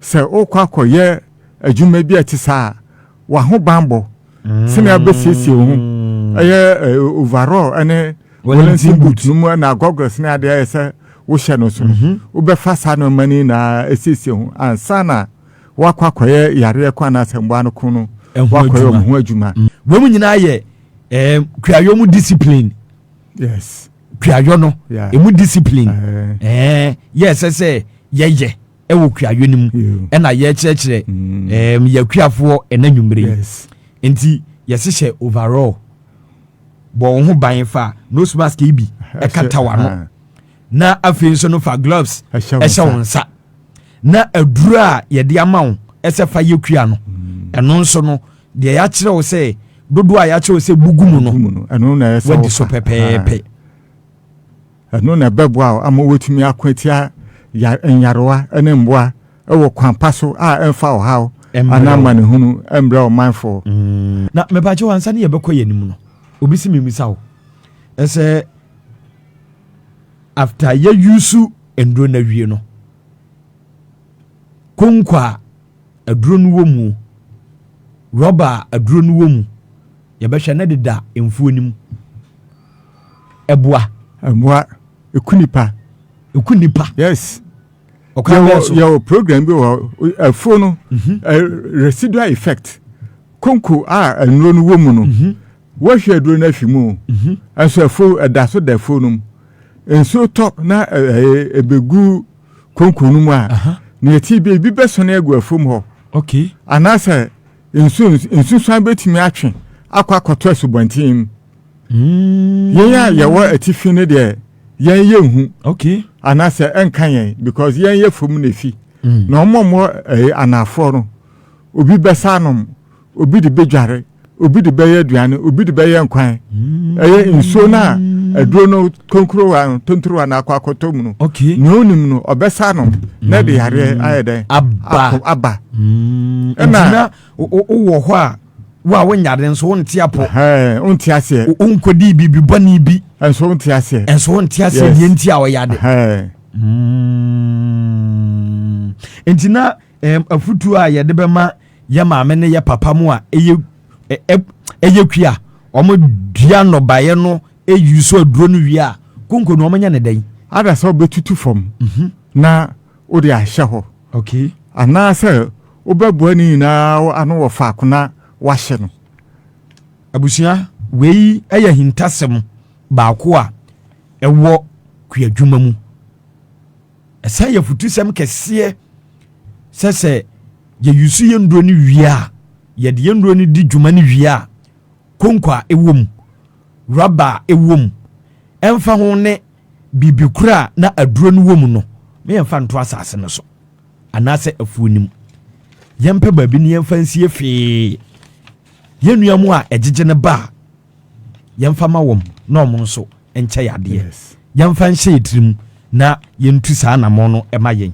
Sɛ worekɔ akɔyɛ adwuma bi a ɛte saa a, w'ahobammɔ, sɛnea wobɛsiesie wo ho, ɛyɛ eh, overall ne Wellington boot no mu na goggles ne adeɛ ayɛ sɛ wohyɛ no so no, mhm. wobɛfa saa nneɛma no nyinaa asiesie ho ansa na woakɔ akɔyɛ yareɛ ko anaasɛ mmoa no ko no woakɔyɛ ɔmo ho adwuma. Mm. Wei mu nyinaa yɛ eh, kuayɔ mu discipline. Yes. Kuayɔ no, emu discipline. Eh. Eh, yɛ ɛsɛ sɛ yɛyɛ. ɛwɔ kuayɔ no mu ɛna yɛkyerɛkyerɛ ɛɛm mm. yɛkuafoɔ ɛna nwumire yi nti yɛhyehyɛ overall bɔ wɔn ho ban fa nose mask yi bi ɛkata wɔn ano na afei nso no fa gloves ɛhyɛ wɔn nsa na aduro a yɛde ama wɔn ɛsɛ fa yɛ kua no mm. ɛno nso no deɛ yɛakyerɛ wo sɛ dodoɔ a yɛakyerɛ wo sɛ bugu mu no wadi so pɛpɛɛpɛ. Ɛno na ɛbɛboa wo ama woatumi ako atia nyarewa ne mmoa wɔ kwan pa so a ɛmfa ɔhaw anaa amanehunu mbrɛ ɔmanfo. Na mebagyew ansa ne yɛbɛkɔ yɛn anim no, obi se memmisa wo sɛ after yɛ use nnuro no awie no, konko a aduro no wɔ mu, rɔba a aduro no wɔ mu, yɛbɛhwɛ na deda mfuo no mu. ɛboa. Ɛboa. Ɛku nipa. Ɛku nipa. Yes. Ɔkwan bɛn so? Yɛwɔ program bi wɔ afuo no mhm. residual effect konko a nnuro no wɔ mu no mhm. wɔhwɛ aduro no afi mu mhm. nso afuo ɛda so da afuo no mu nsuo tɔ na ɛbɛgu konko no mu a na yɛti bi ebi bɛsɔne agu afuo mu hɔ anaasɛ nsuo nsusuan bɛtumi atwe akɔ akɔtɔ asubɔnten mu. Mm. Yɛn a yɛwɔ atifi no deɛ yɛn yɛ nhu. Okay. Anaasɛ ɛnka yɛn because yɛn yɛ fam na efi. Mm. Na wɔn a wɔwɔ ɛɛ eh, anaafoɔ no obi bɛsa anom obi de bɛdware obi de bɛyɛ aduane obi de bɛyɛ nkwan. Mm. Ɛyɛ nsuo no a aduro no konkurowa no tonturowa no akɔ akɔtɔ mu no. Okay. Nea onim no ɔbɛsa anom na ɛde yareɛ mm. ayɛ dɛn. Aba. Aba. Mm. Ɛna. Ɛna wowɔ hɔ a. wo a wonyare nso wonte apɔ wonte aseɛ wonkɔdii biribi bɔne bi nso wonte aseɛ nso wonte aseɛ deɛ nti a ɔyade hmm. nti na afutuo a yɛde bɛma yɛ maame ne yɛ papa mu a ɛyɛ ɛyɛ kui a wɔdua nnɔbaeɛ no ɛyi so aduro no wie a konko no wɔnyɛ ne dɛn ada sɛ wɔbɛtutu fam mhm. na wode ahyɛ hɔ. Okay. Anaasɛ wobɛboa ne nyinaa ano wɔ faako na woahye no. Abusua, wei yɛ ahintasɛm baako a ɛwɔ kuadwuma mu. Ɛsan yɛ afutusɛm kɛseɛ sɛ sɛ yɛyusu yɛn nnuro no wie a, yɛde yɛn nnuro no di dwuma no wie a, konko a ɛwɔ mu, rɔba a ɛwɔ mu, ɛmfa ho ne biribi kura a na aduro no wɔ mu no, ma yɛmfa nto asase no so anaasɛ afuo no mu. Yɛmpɛ baabi na yɛmfa nsie fee. Yɛn nua mu a ɛgyegye no ba a, yɛmfa ma wɔn na wɔn nso nkyɛ yadeɛ. Yɛmfa nhyɛ yɛn tirim na yɛntu saa anammɔn no ma yɛn.